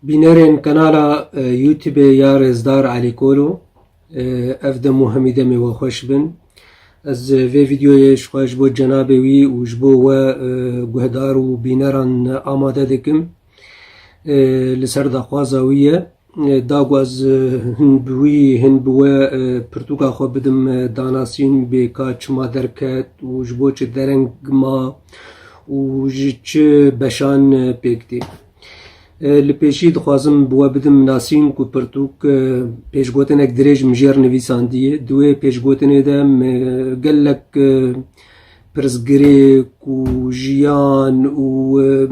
Bînerên kanala Youtubê ya Rêzdar Elî Kolo ev dem û hemî demê we xweş bin. Ez vê vîdyoyê ji xwe ji bo cenabê wî û ji bo we guhdar û bîneran amade dikim. Li ser daxwaza wî ye. Da ku ez hin bi wî hin bi we pirtûka xwe bidim danasîn bê ka çima derket û ji bo çi dereng ma û ji çi beşan pêk tê. Li pêşî dixwazim bi we bidim nasîn ku pirtûk pêşgotinek dirêj min jêr nivîsandiye. Di wê pêşgotinê de min gelek pirsgirêk û jiyan û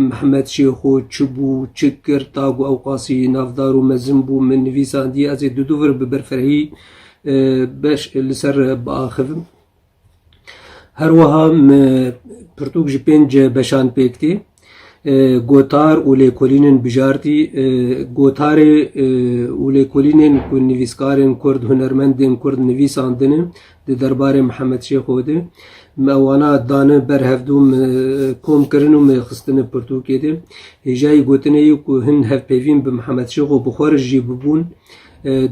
Mihemed Şêxo çi bû, çi kir, ta ku ew qasî navdar û mezin bû min nivîsandiye. Ez ê dû dû vir bi birfirehî li ser biaxivim. Her wiha pirtûk ji pênc beşan pêk tê. Gotar û lêkolînên bijartî, gotarê û lêkolînên ku nivîskarên Kurd, hunermendên Kurd nivîsandine di derbarê Mihemed Şêxo de. Me wana dane ber hevdû, me kom kirine û me xistine pirtûkê de. Hêja yê gotinê ye ku hin hevpeyvîn bi Mihemed Şêxo bi xwe re jî bibûn.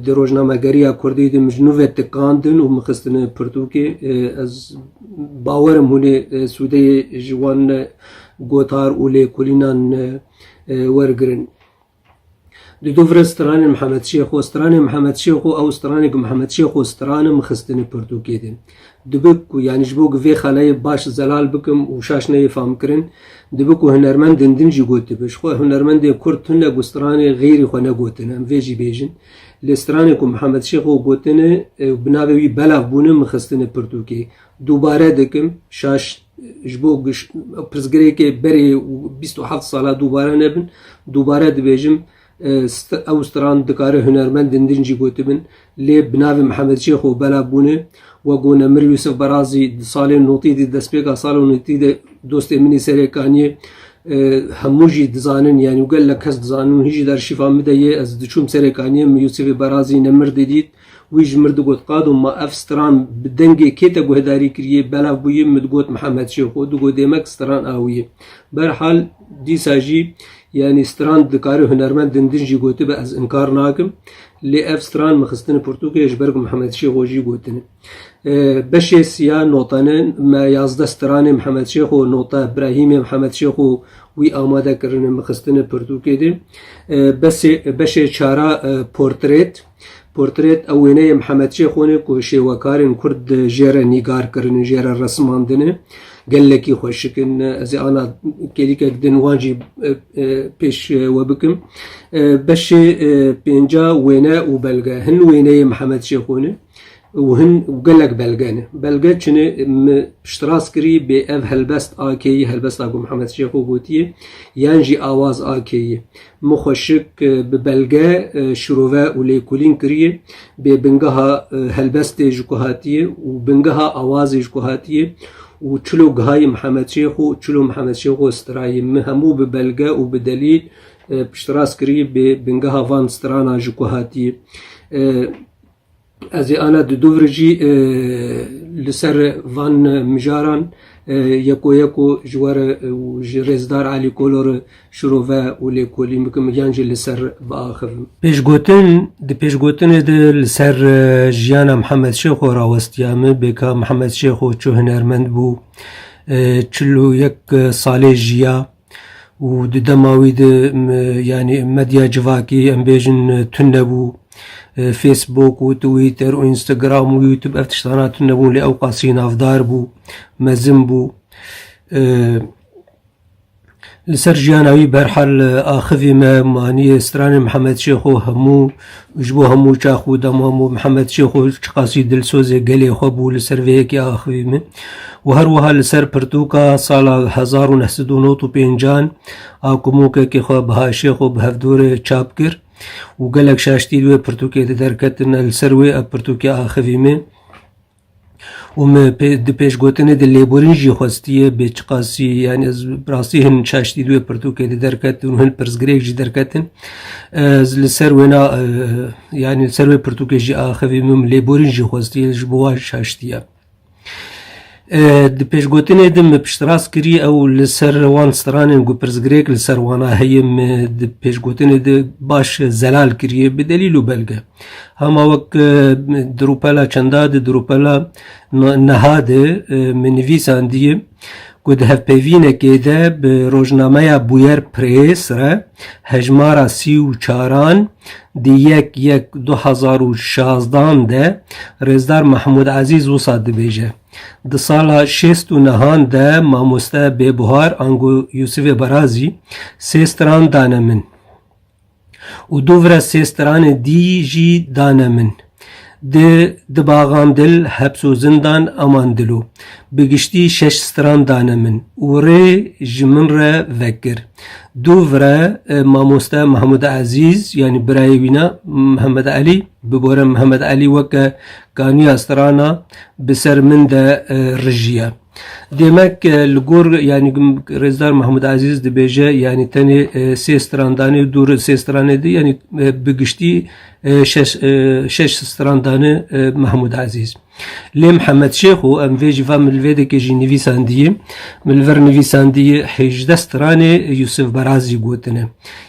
Di rojnamegeriya kurdî de min ji nû ve tikandin û min xistin pirtûkê. Ez bawer im hûnê sûdeyê ji wan gotar û lêkolînan wergirin. Di du vire stranên Mihemed Şêxo, stranê Mihemed Şêxo ew stranê ku Mihemed Şêxo strane min xistin pirtûkê de. Dibe ku yanî ji bo ku vê xaneyê baş zelal bikim û şaş neyê famkirin, dibe ku hunermend din din jî gotibe. Ji xwe hunermendê kurd tune ku stranê xêrî xwe negotine, em vê jî bêjin. Lê stranê ku Mihemed Şêx xwe gotine û bi navê wî belav bûne min xistine pirtûkê. Dubare dikim, şaş ji bo ku pirsgirêkê berê bîst û heft sala dubare nebin, dubare dibêjim, Ew stran dikare hunermendên din jî gotibin lê bi navê Mihemed Şêx û Bela bûne. Wek ku Nemir Yûsif Berazî di salên notî de destpêka sala notî de dostê min ê serê kanî ye. Hemû jî dizanin yanî gelek kes dizanin û hîn jî di arşîfa min de ye. Ez diçûm serê kanî min Yûsifê Berazî Nemir didît. Wî ji min digot, Qado ma ev stran bi dengê kê te guhdarî kiriye? Belav bûye min digot Mihemed Şêxo. Digot Dêmek stran a wî ye. Berhal dîsa jî yanî stran dikare hunermend din din jî gotibe ez inkar nakim. Lê ev stran min xistine pirtûkê ji ber ku Mihemed Şêxo jî gotine. Beşê siya notane me yazdeh stranê Mihemed Şêxo nota Brahîmê Mihemed Şêxo wî amade kirine min xistine pirtûkê dê. Beşê çara portrêt. Portret ew wêneyê Mihemed Şêxonê ku şêwekarên Kurd jê re nîgar kirin û jê re resimandine. Gelekî xweşik in. Ez ê ana kêlîkek din wan jî pêş we bikim. Beşê pênca wêne û belge hin wêneyê Mihemed Şêxonê. Û hin gelek belge ne. Belge çi ne? Min piştras kirî bê ev helbest a kê yî, helbesta ku Mihemed Şêxo gotiye yan jî awaz a kê yî. Min xwe şik bi belge şirove û lêkolîn kiriye bê bingeha helbestê ji ku hatiye û bingeha awazê ji ku hatiye û çilo gihayî Mihemed Şêxo û çilo Mihemed Şêxo stirayî. Min hemû bi belge û bi delîl piştras kirî bê bingeha van strana ji ku hatiye. Ez ê ana di dûvir jî li ser van mijaran yeko yeko ji we re û ji Rêzdar Elî Kolo re şirove û lêkolîn bikim yan jî li ser biaxivim. Pêşgotin, Di pêşgotinê de li ser jiyana Mihemed Şêxo rawestiya me bê ka Mihemed Şêxo çi hunermend bû, çil û yek salê jiya, û di dema wî de yanî medya civakî em bêjin tune nebû. Facebook û Twitter û Instagram û YouTube ev tiştana tune nebûn lê ew qasî navdar bû, mezin bû. Li ser jiyana wî berhal axivî me manî stranên Mihemed Şêxo hemû Ji bo hemû çax û deman bo Mihemed Şêxo çiqasî dilsozê gelê xwe bû li ser vê yekê axivî min û her wiha li ser pirtûka sala hezar û neh sed û nod û pêncan a ku mûkekê xwe Baha Şêxo bi hevdorê çap kir û gelek şaştî li wê pirtûkê de derketin li ser wê ev pirtûkê axivî min. û me di pêşgotinê di lêborîn jî xwestiye bê çiqasî yani ez rastî hin çaştî duê pirtûkê di derketin û hin pirsgirêk jî derketin ez li ser wêna yani ser wê pirtûkê jî axivî min lêborîn jî xwestiye ji bo wan şaştiye di pêşgotinê din min piştrast kirî ew li ser wan stranên ku pirsgirêk li ser wana heye min di pêşgotinê di baş zelal kiriye bi delîl û belge Hema wek di rûpela çenda di di rûpela niha di min nivîsandiye ku di hevpeyvînekê de bi rojnameya Bûyer Prês re hejmara sî û çaran di yek yek du hezar û şazdan de Rêzdar Mehmûd Ezîz wisa dibêje di sala şêst û nehan de mamoste bêbuhar ango Yûsifê Barazî sê stran dane min. Û du vira sê stranê dî jî dane min. Di di baxan dil, heps û zindan aman dilo. Bi giştî şeş stran dane min û rê ji min re vekir. Du vira mamoste Mehemûd Ezîz yanî birayê wîna Mihemed Elî bi bore Mihemed Elî weke kaniya strana bi ser min de rijiye. Demek li gor yanî Rêzdar Mehmûd Ezîz dibêje yanî tenê sê strandanê dû li sê stranê di yanî bi giştî şeş strandane Mehmûd Ezîz. Lê Mihemed Şêx û em vê jî va min li vê dekê jî nivîsandiye. Min li vir nivîsandiye hêjdeh stranê Yûsif Berazî gotine.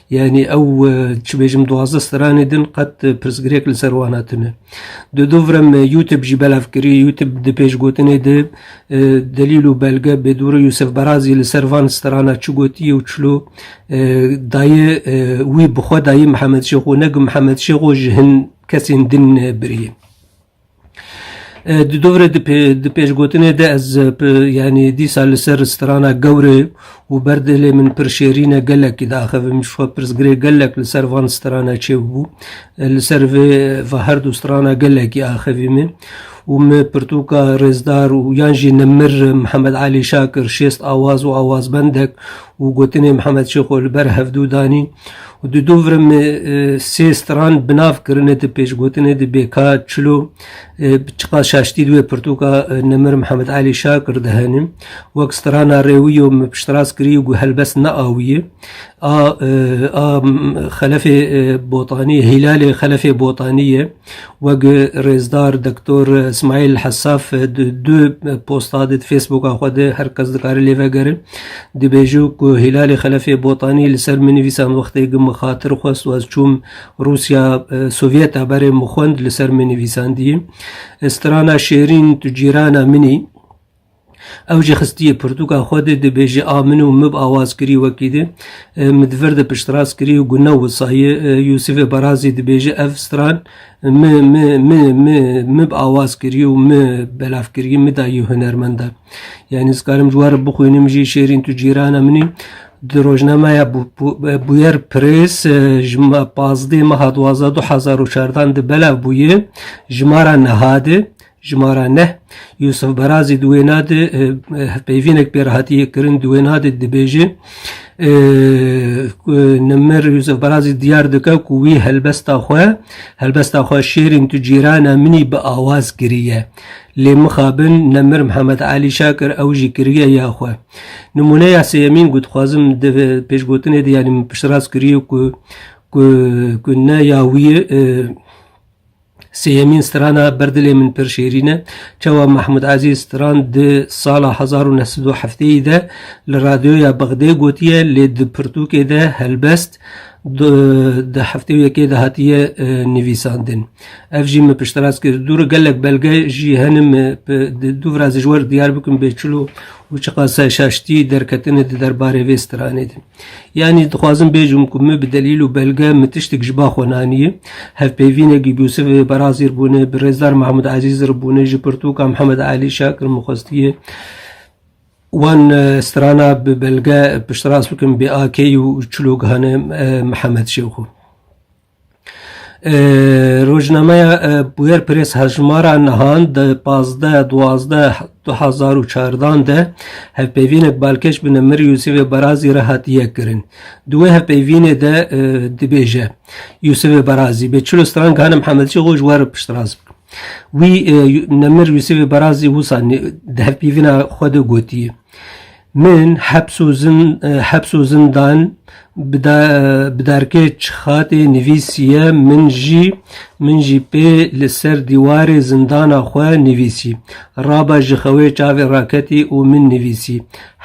Yanî ew çi bêjim duwazdeh stranê din qet pirsgirêk li ser wan hatine. Di dûvrim Yûtib jî belav kirî. Yûtib di pêşgotinê di delîl û belge bêdûrê Yûsef Berazî li ser van strana çi gotiye û çilo dayê wî bi xwe dayê Mihemed Şêxo ne ku Mihemed Şêxo ji hin kesên din biriye. Di dûvre di pêşgotinê de ez yanî dîsa li ser strana gewrê Û ber dilê min pir şêrîn e, gelekî diaxivim ji xwe pirsgirê gelek li ser van strana çêbû. Li ser vê va her du strana gelekî axivî min. Û min pirtûka Rêzdar û yan jî Nimir Mihemed Elî Şakir şêst awaz û awazbendek û gotinên Mihemed Şêxo li ber hevdû danîn. Û di dû vir min sê stran bi nav kirine di pêşgotinê di bêka çilo. Çiqa şaştî di wê pirtûka Nemir Mihemed Elî Şa kir di henê wek strana rêwîyo min piştras kirî û got helbest neawîyê a a xelefê botanî hîlalê xelefê botanî ye wek rêzdar doktor Smaîl Hesaf di du posta di Facebooka xwe de her kes dikare lê vegere dibêje ku hîlalê xelefê botanî li ser min nivîsan wextê min xatir xwest û ez çûm Rûsya Sovyeta berê min xwend li ser min nivîsandiye. Strana şêrîn tu cîrana minî. Ew jî xistiye pirtûka xwe dê dibêje a min û mib awaz kirî wekî dê. Min di vir de piştrast kirî û gune wisaye. Yûsifê Barazî dibêje ev stran mi mi mi mi mib awaz kirî û mi belav kirî, mi dayî hunermendan. Yanî ez karim ji we re bixwînim jî şêrîn tu cîrana minî. Di rojnameya Bûyer Press ji pazdeh meha duwazdeh du hezar û çardan di belav bûye jimara niha de, jimara neh, Yûsif Barazî di wêna de hevpeyvînek pê re hatiye kirin, di wêna de dibêje ku Nimir Yûsif Barazî diyar dike ku wî helbesta xwe helbesta xwe Şêrîn tu cîrana min î bi awaz kiriye. Lê mixabin Nimir Mihemed Elî Şakir ew jî kiriye ya xwe. Nimûneya sêyemîn ku dixwazim di pêşgotinê de yanî min piştrast kiriye ku ku ku ne ya wî ye e, Sêyemîn strana ber dilê min pir şêrîn e. Çawa Mahmud Azîz stran di sala hezar û neh sed û hefteyî de li radyoya Bexdê gotiye lê di pirtûkê de helbest Di heftê û yekê de hatiye nivîsandin. Ev jî min piştras kir. Dûr gelek belge jî hene min di dû vira ji wer diyar bikim bê çilo û çiqas şaştî derketine di derbarê vê stranê de. Yanî dixwazim bêjim ku min bi delîl û belge min tiştek ji ba xwe naniye. Hevpeyvînek ji Yûsif Barazî re bûne, bi Rêzdar Mehmûd Ezîz re bûne, ji pirtûka Mihemed Elî Şakir min xwestiye. Wan strana bi belge piştrast bikin bi AK û çilokgehane Mihemed Şêxû. Rojnameya Bûyer Press hevjimara nihan di pazdeh duwazdeh du hezar û çardan de hevpeyvînek balkêş bi Nemir Yûsivê Barazî re hat yekkirin. Di wê hevpeyvînê de dibêje Yûsivê Barazî bê çil û stran gehane Mihemed Şêxû ji we re piştrast bikin. Wî Nemir Yûsîfê Barazî wisa dehpîvîna xwe de gotiye. Min heps û zindan bi darkê çixatê nivîsiye min jî min jî pê li ser dîwarê zindana xwe nivîsî. Raba ji xewê çavê raketî û min nivîsî,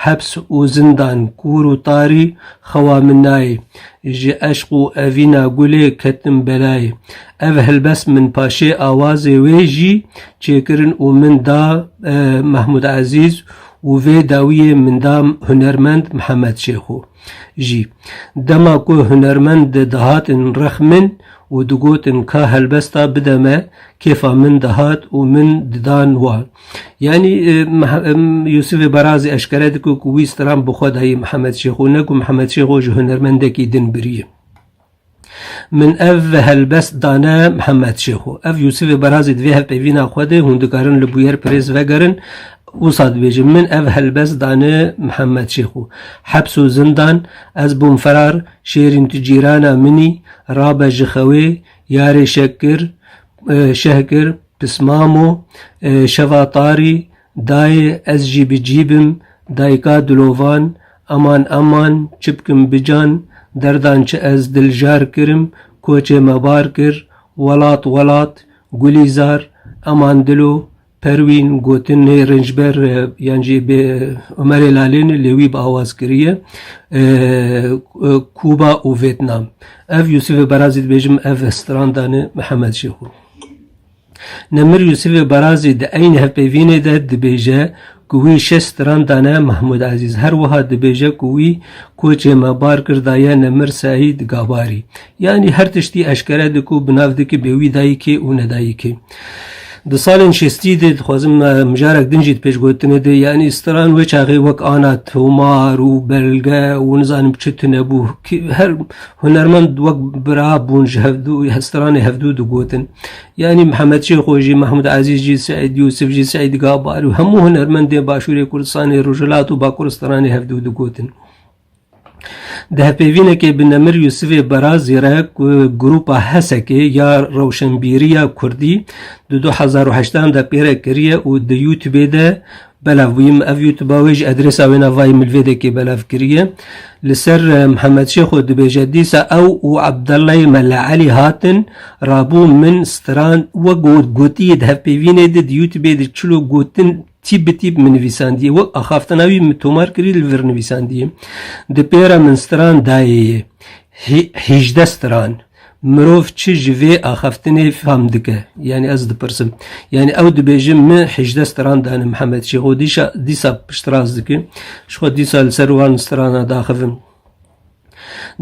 Heps û zindan kûr û tarî xewa min nayê. Ji eşq û evîna gulê ketim belayê. Ev helbest min paşê awazê wê jî çêkirin û min da Mehmûd Ezîz û vê dawiyê min da hunermend Mihemed Şêxo jî. Dema ku hunermend dihatin rex min û digotin ka helbesta bide me, kêfa min dihat û min didan wan. Yanî Yûsifê Barazî eşkere dike ku wî stram bi xwe dayî Mihemed Şêxo ne ku Mihemed Şêxo ji hunermendekî din biriye. Min ev helbest dane Mihemed Şêxo. Ev Yûsifê Barazî divê hevpeyvîna xwe de hûn dikarin li Bûyer Pirêz vegerin wisa dibêje min ev helbest dane Mihemed Şêxo. Heps û zindan ez bûm ferar şêrîn tu cîrana minî rabe ji xewê yarê şek kir şeh kir Pismamo, şeva tarî, dayê ez jî bi cî bim, dayika dilovan, eman eman, çi bikim bican, derdan çi ez diljar kirim, koçê me bar kir, welat welat, Gulîzar, eman dilo, Perwîn, gotin nê rincber yan jî bê Umerê Lalêni lê wî bi awaz kiriye, Kuba û Vêtnam. Ev Yûsifê Berazî dibêjim ev strandan e Mihemed Şêxû. Nemir Yûsifê Barazî di eyn hevpeyvînê de dibêje ku wî şeş stran dane Mahmûd Ezîz. Her wiha dibêje ku wî koçê me bar kir daye Nemir Seîd Gabarî. Yanî her tiştî eşkere dike û bi nav dike bê wî dayikê û ne dayikê. Di salên şêstî de dixwazim mijarek din jî di pêşgotinê de yanî stran wê çaxê wek ana tomar û belge û nizanim çi tune bû. Her Hunermend wek bira bûn ji hevdû stranê hevdû digotin. Yanî Mihemed Şêxo jî, Mehmûd Ezîz jî, Seîd Yûsif jî, Seîd Gabar û hemû hunermendên Başûrê Kurdistanê, Rojhilat û Bakuristranê hevdû digotin. Di hevpêvînekê bi Nemir Yûsifê Berazî re ku grûpa Hesekê ya Rewşenbîriya Kurdî di du hezar û heştan de pêre kiriye û di Youtubê de Belav bûyim ev YouTube wê ji adrêsa wê navayî milvêdekê belav kiriye. Li ser eh, Mihemed Şêxo dibêje dîsa ew û Abdellay Mela Elî hatin rabû min strand wek got gotiye di hevpêvînê de di YouTubeê de çilo gotin tîp bi tîp min nivîsandiye wek axaftina wî min tomar kirî li vir nivîsandiye. Di pêra min stran dayê ye. Hî- Hîjde stran. Mirov çi ji vê axaftinê fam dike? Yanî ez dipirsim. Yanî ew dibêje min hejdeh stran dane Mihemed Şêx û dîşa dîsa piştrast dikim. Ji xwe dîsa li ser wan strana daxivim.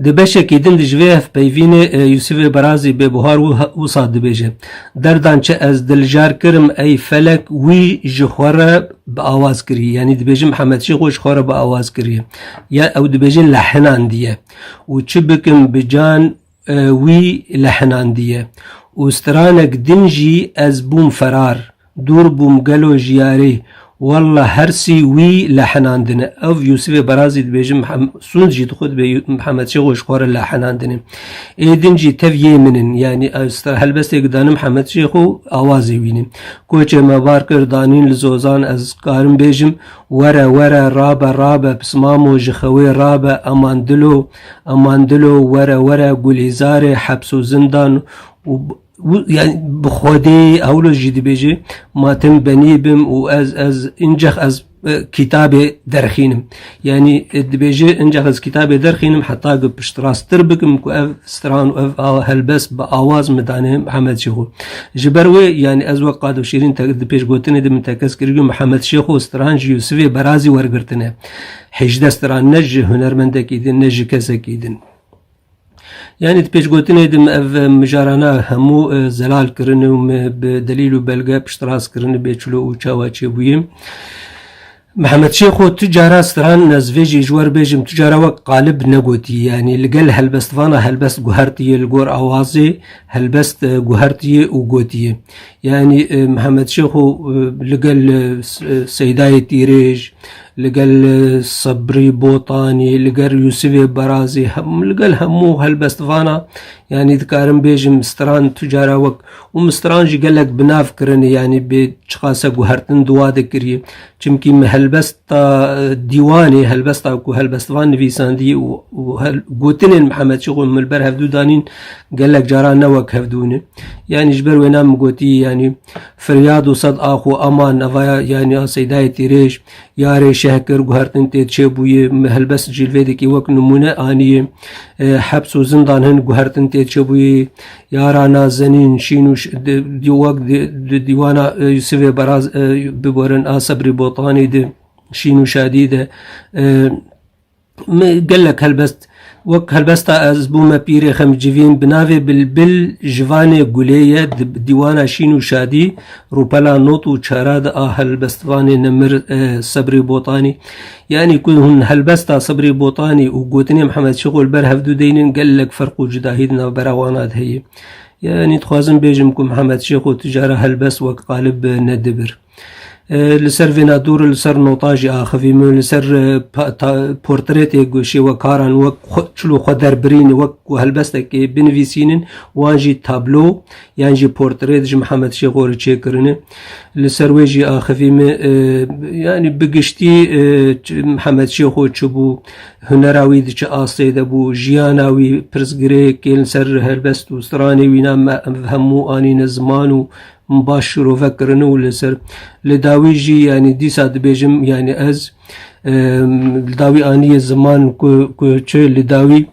Di beşekî din ji vê hevpeyvînê e, Yûsifê Berazî bê buhar wisa dibêje. Derdan çi ez diljar kirim ey felek wî ji xwe re bi awaz kirî. Yanî dibêje Mihemed Şêx û ji xwe re bi awaz kirî. Ya ew dibêje li hinan diye. û çi bikim bi can e, wî li hinandiye. Û stranek din jî ez bûm ferar, dûr bûm gelo jiyarê. Wallah hersî wî li hinandine. Ev Yûsifê Barazî dibêjin Sûnd jî dixwe dibe Mihemed Şêxo ji xwe re li hinandine. Ê din jî tev yê min in. Yanî ez helbestêk danim Mihemed Şêxo awazê wî ne. Koçê me bar kir danîn li Zozan ez karim bêjim Were were rabe rabe pismamo ji xewê rabe eman dilo eman dilo were were gulîzarê heps û zindan û yani bi xwedê hewlo jî dibêjê ma tim benî bim û ez ez încex ez kitabê derxînim yani dibêjê încex ez kitabê derxînim heta gu piştrastir bikim ku ev stran û ev helbest bi awaz midane Mihemed Şêxo Ji ber wê yanî ez wek Qado Şîrîn di pêşgotinê de min tekez kir ku Mihemed Şêxo stran ji Yûsivê berazî wergirtine. Hêjdeh stran ne ji hunermendekî din ne ji kesekî din. Yani di pêşgotinê de ev mijarana hemû e, zelal kirine û me bi delîl û belge piştras kirine bê çilo û çawa çêbûyê. Mihemed Şêxo, tu cara stran ez vê jî ji we re bêjim, tu cara wek qalib negotî yanî li gel helbestvana helbest guhertiye li gor awazê helbest e, guhertiye û gotiye. Yanî e, Mihemed Şêxo e, li gel e, e, Seydayê Tîrêj, li gel e, Sebrî Botanî, li gel Yûsivê Berazî, hem- li gel hemû helbestvana yanî dikarim bêjim stran tu cara wek û mistiran jî gelek bi nav kirine yanî bê çiqase guhertin duwa dikiriye çimkî me helbesta dîwanê helbesta ku helbestivan nivîsandî û gotinên Mihemed Şixû min ber hevdû danîn gelek caran ne wek hevdûne yanî ji ber wêna min gotî yanî firyad û sed axû ema nevaya yanî a seydayê tîrêj yarê şehkir guhertin tê çêbûye me helbest jîlvêdekî wek nimûne aniye hebs û zindan hin guhertin tê çêbûye Yara nazenîn şîn û wek di dîwana Yusifê Baraz biborin a Sebrî Botanî di şîn û şadî de gelek helbest wek helbesta ez bûme pîrê xemcivîn bi navê Bilbil ji vanê gulê ye di dîwana şîn û şadî rûpela not û çara di a helbestvanê nemir Sebrî Botanî Yanî ku hûn helbesta Sibrî Botanî û gotinê Mihemed Şixol ber hevdû deynin gelek ferq û cudahî di navbera wana de heye. Yanî dixwazim bêjim ku Mihemed Şêxo tu cara helbest wek qalib nedibir. Li ser vêna dûr li ser nota jî axivî min li ser portretê şêwekaran wek çil û xwe derbirîn wek ku helbestekê binivîsînin wan jî tablo yan jî portrêt ji Mihemed Şêxorê çêkirine. Li ser wê jî axivî me e, yanî bi giştî e, Mihemed Şêxo çi bû, hunera wî di çi astê de bû, jiyana wî pirsgirêkê li ser helbest û stranê wî na me ev hemû anîne ziman û baş şirove kirine û li ser li dawî jî yanî dîsa dibêjim yanî ez e, li dawî anîye ziman ku ku çi li dawî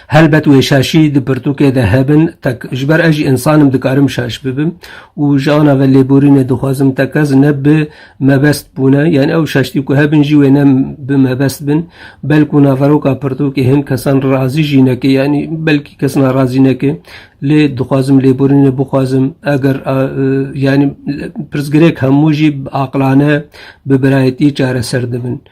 Helbet wê şaşî di pirtûkê de hebin tek ji ber ez jî însan im dikarim şaş bibim û ji ana ve lêborînê dixwazim tek ez ne bi mebest bûne yan ew şaştî ku hebin jî wê ne bi mebest bin belkû naveroka pirtûkê hin kesan razî jî neke yanî belkî kes narazî neke lê dixwazim lêborînê bixwazim eger yanî pirsgirêk hemû jî aqilane bi birayetî çareser dibin.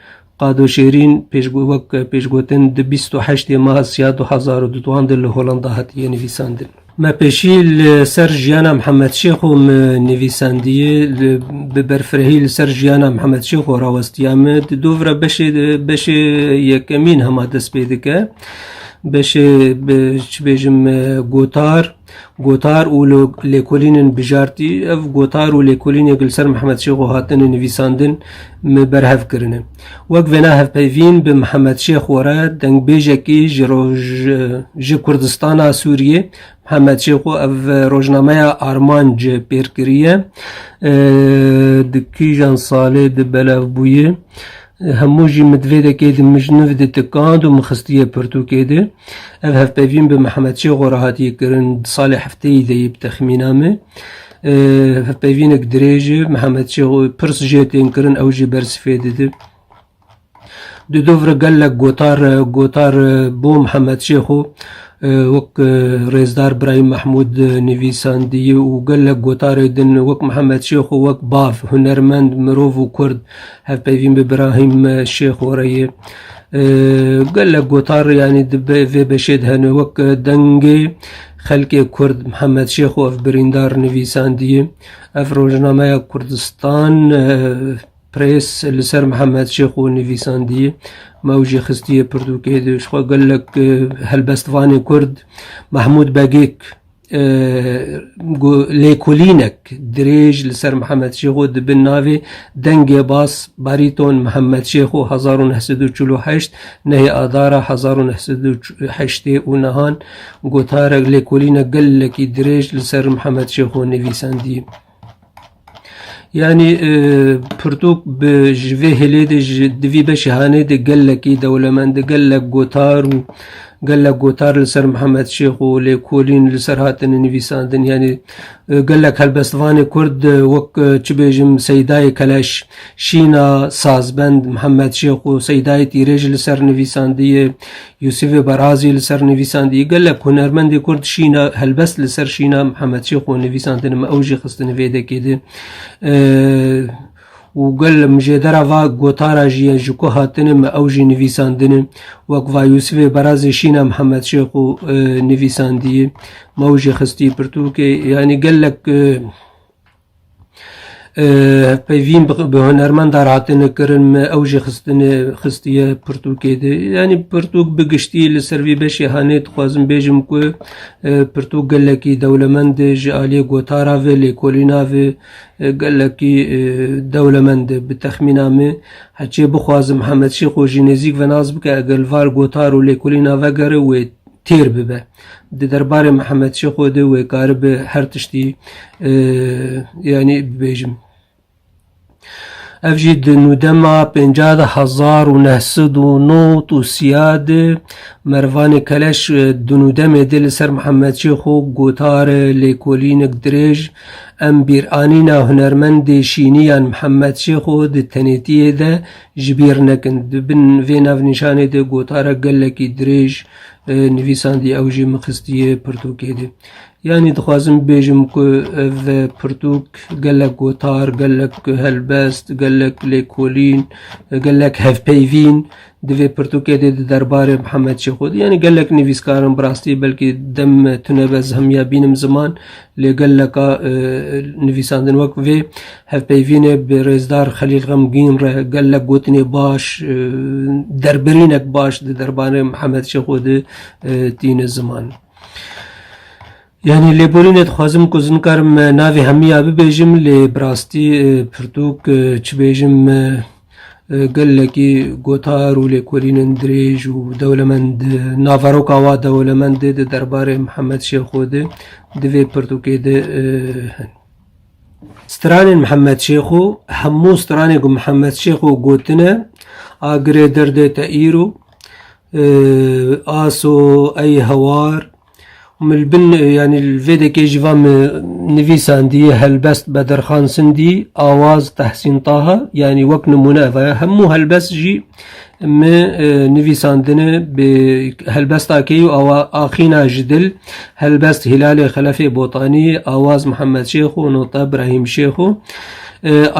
Qado Şêrîn wek pêşgotin di bîst û heştê meha Siya du hezar û duan de li Holanda hatiye nivîsandin. Me pêşî li ser jiyana Mihemed Şêxo min nivîsandiyê, bi berfirehî li ser jiyana Mihemed Şêxo rawestiya min. Di dovra beşê de beşê yekemîn hema dest pê dike. Beşê bi çi bêjim gotar. Gotar û lêkolînên bijartî Ev gotar û lêkolînek li ser Mihemed Şêxo hatine nivîsandin, me berhev kirine. Wek vêna hevpeyvîn bi Mihemed Şêxo re dengbêjekî ji roj ji Kurdistana Sûriyê Mihemed Şêxo ev rojnameya armanc pêr kiriye. Di kîjan salê di belevbûye? Hemû jî min divêdekê di mijniv de tikand û min xistiye pirtûkê de. Ev hevpeyvîn bi Mihemed Çêxo re hatiye kirin di salê hefteyî de yê bi texmîna me. Hevpeyvînek dirêj e. Mihemed Çêxo pirs jê tên kirin ew jê bersifê dide. Di dov re gelek gotar re gotar bo Mihemed Çêxo Wek Rêzdar Birayîm Mehmûd nivîsandî û gelek gotarê din wek Mihemed Şêx û wek bav, hunermend, mirov û kurd hevpeyvîn bi Birahîm Şêxo re ye. Gelek gotar yanî di vê beşê de hene wek dengê xelkê kurd Mihemed Şêxo ev birîndar nivîsandî ye. Ev rojnameya Kurdistan Press li ser Mihemed Şêxo nivîsandiye, Me ew jî xistiye pirtûkê de. Ji xwe gelek helbestvanên Kurd Mehmûd Begêk lêkolînek dirêj li ser Mihemed Şêxo di bin navê Dengê Bas Barîton Mihemed Şêxo hezar û neh sed û çil û heşt nehê Adara hezar û neh sed û heştê û nihan gotarek lêkolînek gelekî dirêj li ser Mihemed Şêxo nivîsandiye. Yanî pirtûk bi ji vê hêlê de ji divî beşê hanê de gelekî dewlemend e, gelek gotar û gelek gotar li ser Mihemed Şêx û lêkolîn li ser hatine nivîsandin. Yanî gelek helbestvanê Kurd wek çi bêjim Seydayê Keleş, Şîna, Sazbend, Mihemed Şêx û Seydayê Tîrê jî li ser nivîsandiye. Yûsîfê Barazî li ser nivîsandî, Gelek hunermendê kurd şîna helbest li ser şîna Mihemed Şêx û nivîsandin me ew jî xistin vê dekê de. û gel mijêdera va gotara jî ye ji ku hatine me ew jî nivîsandine wek va Yûsifê Berazê şîna Mihemed Şêx û e, nivîsandiyê me ew jî xistî pirtûkê yanî gelek e, Hevpeyvîn bi hunermendan hatine kirin me ew jî xistine xistiye pirtûkê de. Yanî pirtûk bi giştî li ser vî beşê hanê dixwazim bêjim ku e, pirtûk gelekî dewlemend e ji aliyê gotara ve, lêkolîna ve e, gelekî e, dewlemend e. Bi texmîna min heçê bixwazim Hemed Şêxo jî nêzîk ve nas bike eger li var gotar û lêkolîna vegere wê têr bibe. Di derbarê Mihemed Şêxo de wê karibe her tiştî yanî bibêjim. Ev jî di nûdema pêncah de hezar û neh sed û not û siya de Mervanê Keleş di nûdemê de li ser Mihemed Şêxo gotare lêkolînek dirêj em bîranîna hunermendê şîniyan Mihemed Şêxo di tenêtiyê de ji bîr nekin. Di bin vê navnîşanê de gotare gelekî dirêj Nivîsandî ew jî min xistiye pirtûkê de. Yanî dixwazim bibêjim ku ev pirtûk gelek gotar, gelek helbest, gelek lêkolîn, gelek hevpeyvîn di vê pirtûkê de di derbarê Mihemed Şêxo de yanî gelek nivîskarin bi rastî belkî dem tune be zihmiya bînim ziman Lê geleka nivîsandin wek vê hevpeyvînê bi rêzdar Xelîl Xemgîn re gelek gotinê baş, derbirînek baş di derbarê Mihemed Şêxo de tîne ziman. Yanî lêborînê dixwazim ku nikarim navê hemûyan bibêjim lê bi rastî pirtûk çi bêjim Gelekî gotar û lêkolînên dirêj û dewlemend naveroka wa dewlemendê di derbarê Mihemed Şêxo de di vê pirtûkê de hin. Stranên Mihemed Şêxo Hemû stranên ku Mihemed Şêxo gotine a girê derdê te îro, aso, ey hewar, Min li bin yanî li vê dekê jî van min nivîsandî helbest Bedirxan Sindî, Awaz Tehsîn Taha yanî wek nimûne ev e. Hemû helbest jî min nivîsandine bi helbesta key û awa axîna ji dil helbest Hîlalê Xelefê Botanî, Awaz Mihemed Şêx û nota Brahîm Şêx û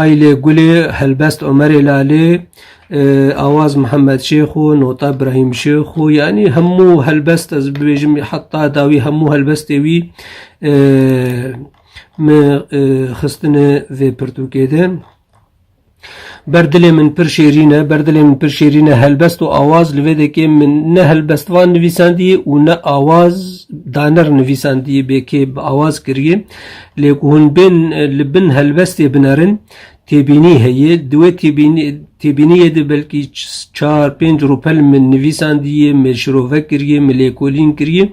Aylê Gulê, helbest Omerê Lalê, Awaz Mihemed Şêx û nota Birahîm Şêx û yanî hemû helbest ez bibêjim heta dawî hemû helbestê wî me xistine vê pirtûkê de. Ber dilê min pir şêrîn e, ber dilê min pir şêrîn e helbest û awaz li vê dekê min ne helbest van nivîsandî û ne awaz daner nivîsandî bê kê bi awaz kiriye. Lê ku hûn bên li bin helbestê binerin Têbînî heye, di wê têbîniyê de belkî çar pênc rûpel min nivîsandiye, min şirove kiriye, min lêkolîn kiriye.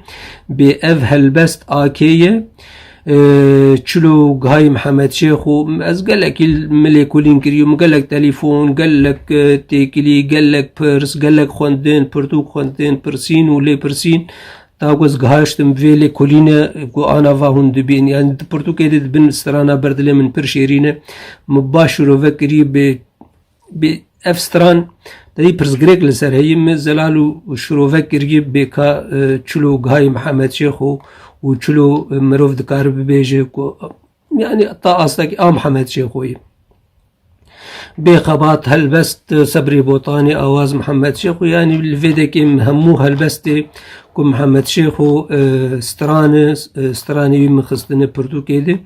Bê ev helbest AK ye. Çilo Gihayê Mihemed Şêx û ez gelekî min lêkolîn kiriye, min gelek telîfon, gelek têkilî, gelek pirs, gelek xwendin, pirtûk xwendin, pirsîn û lêpirsîn. Ta ku ez gihiştim vê lêkolîne ku ana va hûn dibîn yan di pirtûkê de dibin strana ber dilê min pir şêrîn e min baş şirove kirî bê bê ev stran dayî pirsgirêk li ser heyî min zelal û şirove kirî bê ka e, çilo gihayî mihemed şêx û û çilo e, mirov dikare bibêje ku Yani ta astekî a Mihemed Şêxoyî. Bêxebat helbest sebrê botanê awaz Mihemed Şêxo yani li vê dekê hemû helbestê ku Mihemed Şêxo e, stranê e, stranê wî min xistine pirtûkê de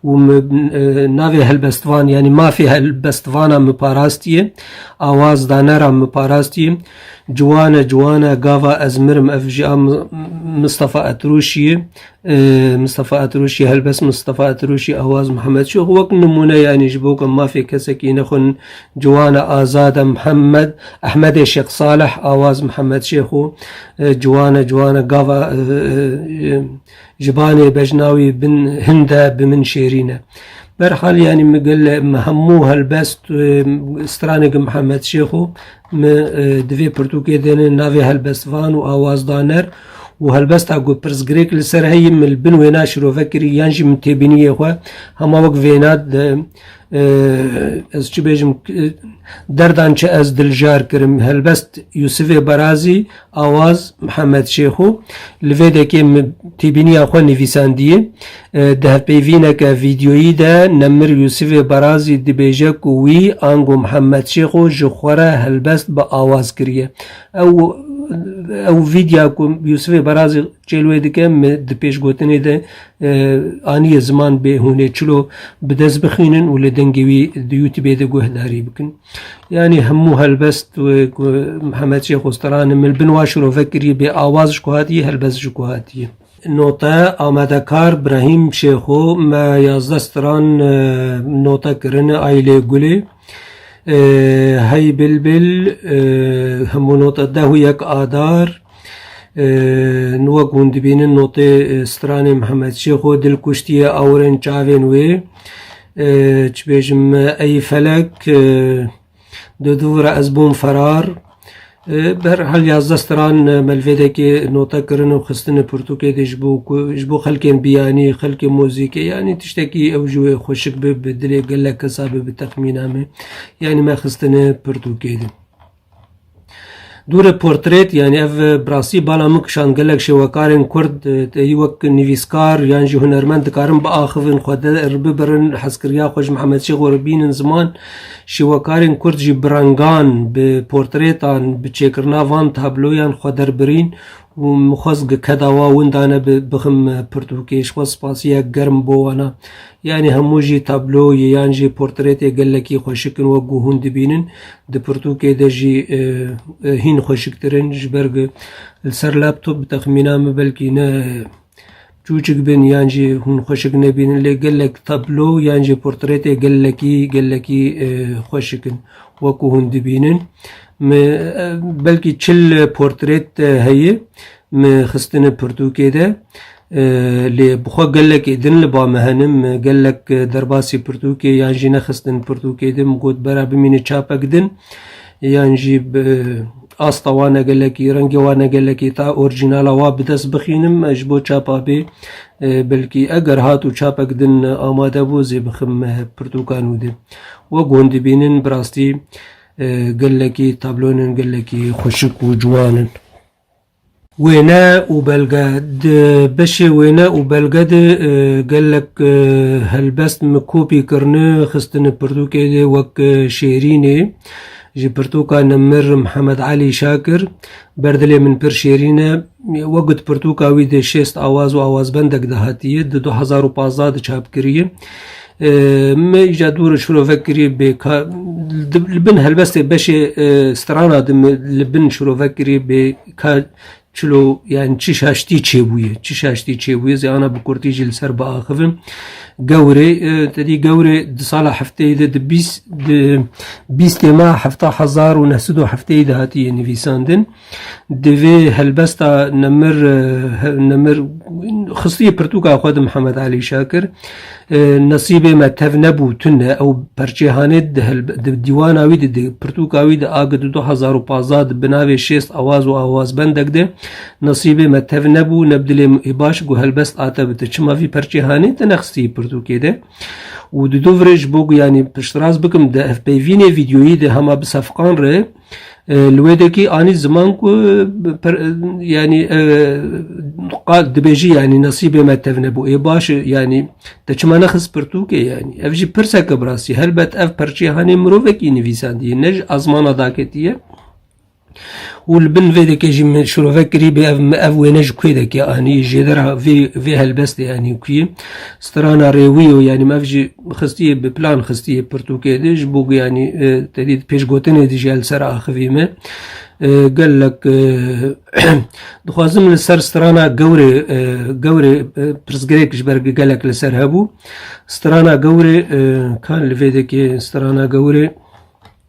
û min e, navê helbestvan yani mafê helbestvana min parastiye awaz danera min parastiye ciwane ciwane gava ez mirim ev jî a Mistefa Etrûşiyê Mistefa Etiruşî helbest Mistefa Etiruşî Awaz Mihemed Şox wek nimûne yanî ji bo ku mafê kesekî nexwin ciwan e azad e Mihemed Ehmedê Şêx Saleh Awaz Mihemed Şêx û ciwan e ciwan e gava ji banê bejna wî bin hind e bi min şêrîn e berhal yanî min gel me hemû helbest straneke Mihemed Şêx û Me di vê pirtûkê de ne navê helbestvan û awazdaner û helbesta ku pirsgirêk li ser heye min li bin wêna şirove kirî yan jî min têbîniyê xwe hema wek vêna ez çi bêjim derdan çi ez diljar kirim helbest Yûsifê Barazî Awaz Mihemed Şêxo li vê dekê tîbîniya xwe nivîsandiye. Di hevpeyvîneke vîdyoyî de Nemir Yûsifê Barazî dibêje ku wî ango Mihemed Şêxo ji xwe re helbest bi awaz kiriye. Ew ew vîdya ku Yûsifê Barazî çêl wê dike me di pêşgotinê de aniye ziman bê hûn ê çilo bi dest bixînin û li dengê wî di Youtubê de guhdarî bikin. Yanî hemû helbest wê ku Mihemed Şêx Osterani min li bin wa şirove kiriye bê awaz ji ku hatiye helbest ji ku hatiye. Note, Amadekar Brahîm Şêxo me yazdeh stran note kirine Aîlê Gulê Hey Bilbil hemû note deh û yek Adar Nûwek hûn dibînin notê stranê Mihemed Şêx û dil kuştiye awirên çavên wê. Çi bêjim ey felek di dû vira ez bûm ferar. Bi her hal yazdeh stran melvêdekê note kirin û xistinê pirtûkê dê ji bo ku ji bo xelkên biyanî, xelkên mozîkê yanî tiştekî ew ji wê xweşik be, bi dilê gelek kesa be, bi texmîna me yanî me xistinê pirtûkê dê. Dûre portret yanî ev bi rastî bala min kişand gelek şêwekarên Kurd têhî wek nivîskar yan jî hunermend dikarin biaxivin xwe der bibirin hezkiriya xwe ji Mihemed Şêxo re bînin ziman şêwekarên Kurd jî bi rengan bi portretan bi çêkirina van tabloyan xwe derbirîn Hûn mixwest gi keda wa winda ne bi bixim pirtûkê. Ji xwe spasiyek germ bo wana. Yanî hemû jî tablo yê yan jî portretê gelekî xweşik in wek ku hûn dibînin. Di pirtûkê de jî hîn xweşiktir in. Ji ber ku li ser laptop bi texmîna min belkî ne Çûçik bin yan jî hûn xweşik nebînin lê gelek tablo yan jî portretê gelekî gelekî e, xweşik in wekû hûn dibînin. Me e, belkî çil portret e, heye me xistine pirtûkê de e, lê bixwe gelekê din li ba me henin me gelek e, derbasî pirtûkê yan jî nexistin pirtûkê din got bera bimîne çapek din. Yan jî bi asta wane gelekî, rengê wane gelekî ta orîjînala wa bi dest bixînim ji bo çapa bê. Belkî eger hat û çapek din amade bû zê bixim pirtûka nû de. Wek hûn dibînin bi rastî gelekî tabloyên gelekî xweşik û ciwan in. Wêne û belge, Di beşê wêne û belge de gelek helbest min kopî kirine, xistine pirtûkê de wek şêrînê ji pirtûka Nemir Mihemed Elî Şakir, Ber dilê min pir şêrîn e. Wek di pirtûka wî de şêst awaz û awazbendek de hatiye. Di du hezar û pazdeh de çap kiriye. Meyî ja dûr şirovek kirî bê li bin helbestê beşê strana di li bin şirovek kirî bê ka çilo yani çi şaştî çêbûye çi şaştî çêbûye zê ana bi kurtî jî li ser biaxivin gewrê te dî gewrê di sala hefteyê de di bîst di bîstê ma hefta hezar û neh sed û hefteyê de hatiye nivîsandin Di vê helbesta Nemir Nemir xistiye pirtûka xwe di Mihemed Elî Şakir. Nesîbê me tev nebû tune ew perçê hanê di dîwana wî di pirtûka wî di agi di du hezar û pazdeh di binavê şêst awaz û awazbendek de nesîbê me tev nebû ne bi dilê min ê baş ku helbest ate bi te çima vî perçê hanê te nexistiye pirtûkê de û di du virê ji bo ku yanî piştras bikim di hevpeyvînê vîdyoyî de hema bi sefqan re Li wê dekî anî ziman ku yanî qal dibêjî yanî nesîbê me tev nebû. Ê baş e yanî te çima nexist pirtûkê yanî. Ev jî pirseke bi rastî helbet ev perçeyê hanê mirovekî nivîsandiye ne ji ezmana daketiye. Û li bin vê dekê jî min şirovek kirîbê ev ev wêne ji kuê dekê anî jêdera vê vê helbestê yanî kuyê strana rêwî yo yanî ev jî Xistiye bi plan xistiye pirtûkê de ji bo ku yanî e, tedî pêşgotinê de jî el ser axivî me. E, Gelek e, dixwazim li ser strana gewrê e, gewrê e, pirsgirêk ji ber gelek li ser hebû. Strana gewrê e, kan li vê dikê strana gewrê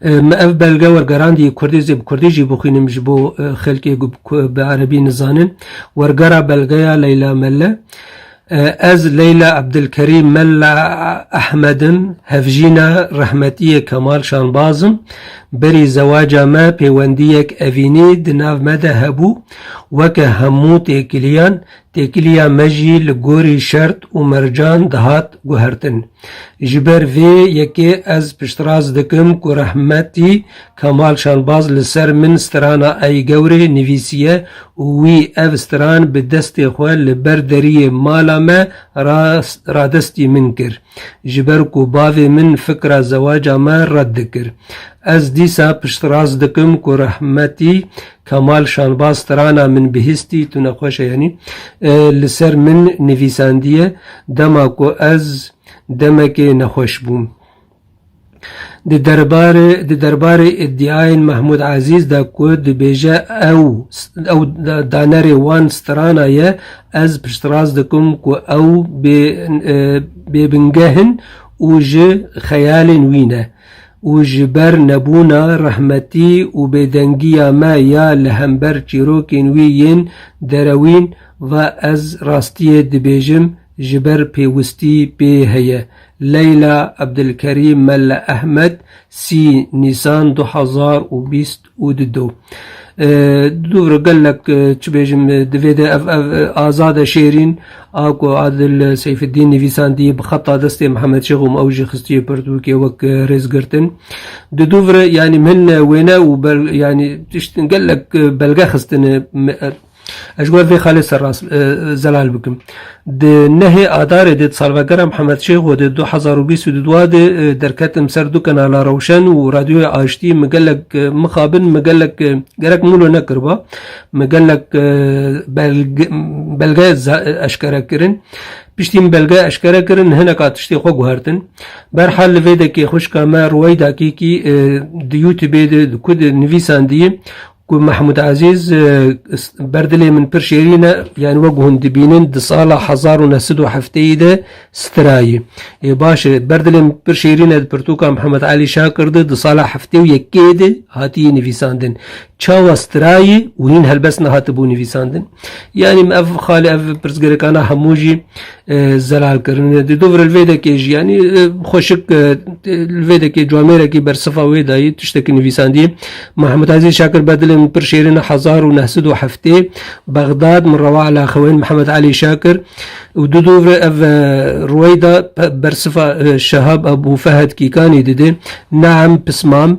Me ev belge wergerandî kurdî zî bi kurdî jî bixwînim ji bo xelkê ku bi erebî nizanin. Wergera belgeya Leyla Melle Ez Leyla Ebdilkerîm Melle Ehmed im, hevjîna Rehmetiyê Kemal Şanbaz im. Berî zewaca me pêwendiyek evînî di nav me de hebû. Weke hemû têkiliyan Têkiliya me jî li gorî şert û mercan dihat guhertin. Ji ber vê yekê ez piştrast dikim ku rehmetî Kemal Şanbaz li ser min strana Ey Gewrê nivîsiye û wî ev stran bi destê xwe li ber deriyê mala me ra radestî min kir. Ji ber ku bavê min fikra zewaca me red dikir. Ez dîsa piştrast dikim ku rehmetî Kemal Şanbaz Strana min bihîstî, tu nexweş e yanî, li ser min nivîsandiye dema ku ez demekê nexweş bûm. Di derbarê di derbarê îdiayên Mehmûd Ezîz de ku dibêje ew ew danerê wan Strana ye, ez piştrast dikim ku ew bê bêbingeh in û ji xeyalên wî ne. û ji ber nebûna rehmetî û bêdengiya me ya li hember çîrokên wî yên derewîn ve ez rastiyê dibêjim ji ber pêwistî pê heye. Leyla Abdulkerîm Melle Ehmed sî Nîsan du hezar û bîst û di do dûr gelek çi bêjim divê de ev ev azade şêrîn a ku Adil Seyfeddîn nivîsandiye bi xeta destê Mihemed Şêx û ew jî xistiye pirtûkê wek rêzgirtin. Di dûvre yanî min wêne û yanî tiştin gelek belge xistine Ez ji wan vê xalê ser rast zelal bikim. Di nehê Adarê de di salvegera Mihemed Şêxo de du hezar û bîst û du dua de derketim ser du kenala Rewşen û Radyoya Aştî min gelek mixabin min gelek gerek mûlo nekiriba min gelek belge eşkere kirin. Piştî min belge eşkere kirin hineka tiştê xwe guhertin. Berhal li vê dekê xwişka me Rûweyda Kîkî di Youtubê de di ku di nivîsan diyî Ku Mehmûd Ezîz ber dilê min pir şêrîn e, yanî wek hûn dibînin di sala hezar û neh sed û hefteyî de stirayî. Lê baş e, ber dilê min pir şêrîn e di pirtûka Mihemed Elî Şakir de di sala heftê û yekê de hatiyî nivîsandin. Çawa stirayî û hîn helbest nehatibû nivîsandin? Yanî ev xalê ev pirsgirêkana hemû jî zelal kirin di dû vir vêdekê jî yanî xweşik vêdekê camêrekî ber sifa wê dayî tiştekî nivîsandî Mehmud Ezîz Şakir bedilê min pir şêrin hezar û neh sid û heftê Bexdad min rewa ala xewên Mehmed Elî Şakir û du dû vir ev rûeyda ber sifa Şehab Ebû Fehed Kîkanî didê Neam Pismam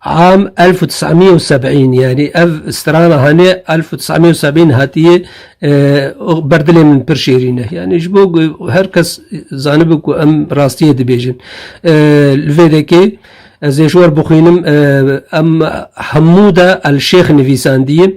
Am elf û tis'a miya û seb'în yanî ev strana hanê elf û tis'a miya û seb'în hatiye ber dilê min pir şêrîn e. Yanî ji bo ku her kes zanibe ku em rastiyê dibêjin. Li vê dekê ez ê ji we re bixwînim em hemû de El Şêx nivîsandiye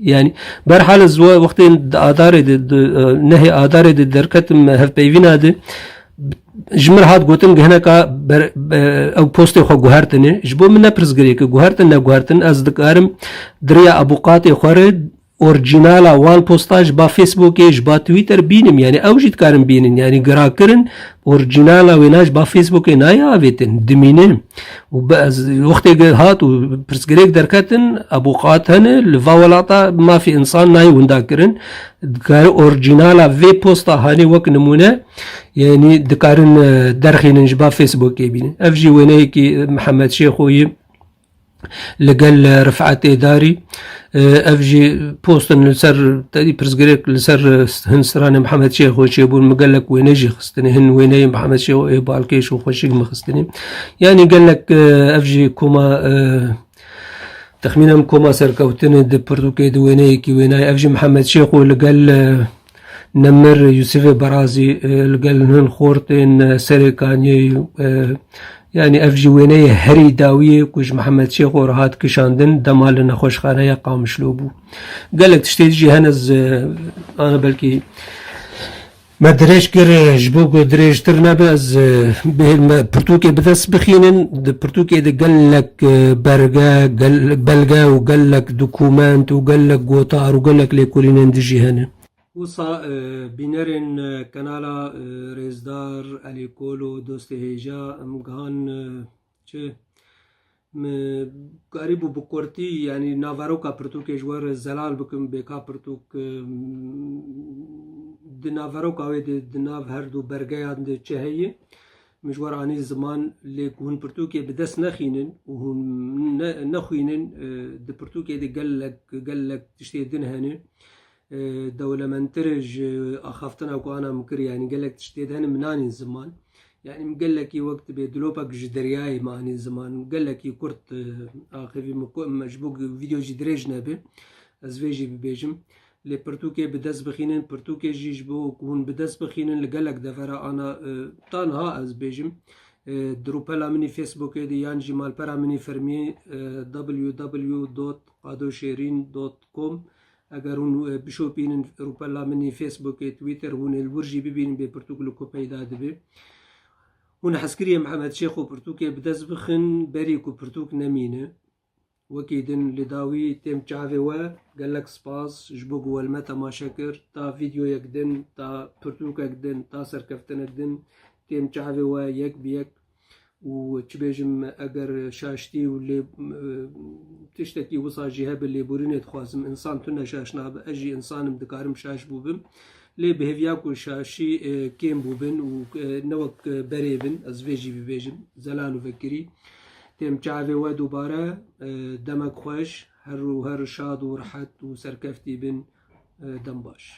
Yani berhal ez wextê adarê de nehê adarê de derketim hevpeyvîna de ji min hat gotin ki hineka ew postê xwe guhertinê ji bo min ne pirsgirê ki guhertin ne guhertin ez dikarim diriya ebûqatê xwe re orcînala wan posta ji ba Facebookê ji ba Twitter bînim yani ew jî dikarin bînin yani girakirin Orîjînala wê na ji ba Facebookê nayê avêtin, dimîne û bi ez wextê hat û pirsgirêk derketin ebûqat hene li va welata mafê însan nayê winda kirin. Dikare orîjînala vê posta hanê wek nimûne yanî dikarin e, derxînin ji ba Facebookê bînin. Ev jî wêneyekî e, Mihemed Şêxoyî li gel Rifetê Darî ev jî postin li ser tedî pirsgirêk li ser hin stranê Mihemed Şêxo çêbûn min gelek wêne jî xistinê hin wêneyê Mihemed Şêxo ê balkêş û xweşik min xistinê yanî gelek ev jî koma Texmînem koma serkewtinê di pirtûkê di wêneyekî wênayê ev jî Mihemed Şêxo li gel Nemir Yusifê Barazî li gel hin xortên serê kaniyê û yanî ev jî wêneyê herî dawî ye ku ji Mihemed Şêxo re hat kişandin dema li nexweşxaneya Qamişlo bû. Gelek tiştê dijî hene ana belkî me dirêj kir ji bo ku dirêjtir nebe ez bêhim me pirtûkê bi dest bixînin di pirtûkê de gelek Ke berge, gel, belge û gelek dokument û gelek gotar û gelek lêkolînên dijî hene. Wisa bînerên kanala Rêzdar, Elî Kolo, Dostê Hêja em gihan çi? Min karîbû bi kurtî yanî naveroka pirtûkê ji we re zelal bikim bê ka pirtûk di naveroka wê de di nav her du bergeyan de çi heye. Mijwar anî ziman lê ku hûn pirtûkê bi dest nexînin û hûn nexwînin di pirtûkê de gelek gelek tiştê din hene. Dewlementtir e ji axaftina ku ana min kir yanî gelek tişt tê de hene min nanîn ziman. Yanî min gelekî wek dibe dilopek ji deryayê min anîn ziman. Gelekî kurt axivî min ji bo ku vîdeo jî dirêj nebe ez vê jî bibêjim. Lê pirtûkê bi dest bixînin, pirtûkê jî ji bo ku hûn bi dest bixînin li gelek devera ana tanha ez bêjim di rûpela min î Facebookê de yan jî malpera min î fermî www dot adoşêrîn dot com eger hûn bişopînin rûpela min î Facebookê, Twitter hûn ê li wir jî bibînin bê pirtûk li ku peyda dibe. Hûn hezkiriyê Mihemed Şêxo pirtûkê bi dest bixin berî ku pirtûk nemîne. Wekî din li dawî têm çavê we. Gelek spas ji bo ku we li me temaşe kir. Ta vîdyoyek din, ta pirtûkek din, ta serkeftinek din têm çavê we yek bi yek û çi bêjim eger şaştî û lê tiştekî wisa jî hebe lêborînê dixwazim. Însan tune şaş nabe. Ez jî însan im dikarim şaş bûbim. Lê bi hêviya ku şaşî kêm bûbin û ne wek berê bin, ez vê jî bibêjim, zelal û vekirî, têm çavê we dubare. Demek xweş, her û her şad û rehet û serkeftî bin. Dem baş.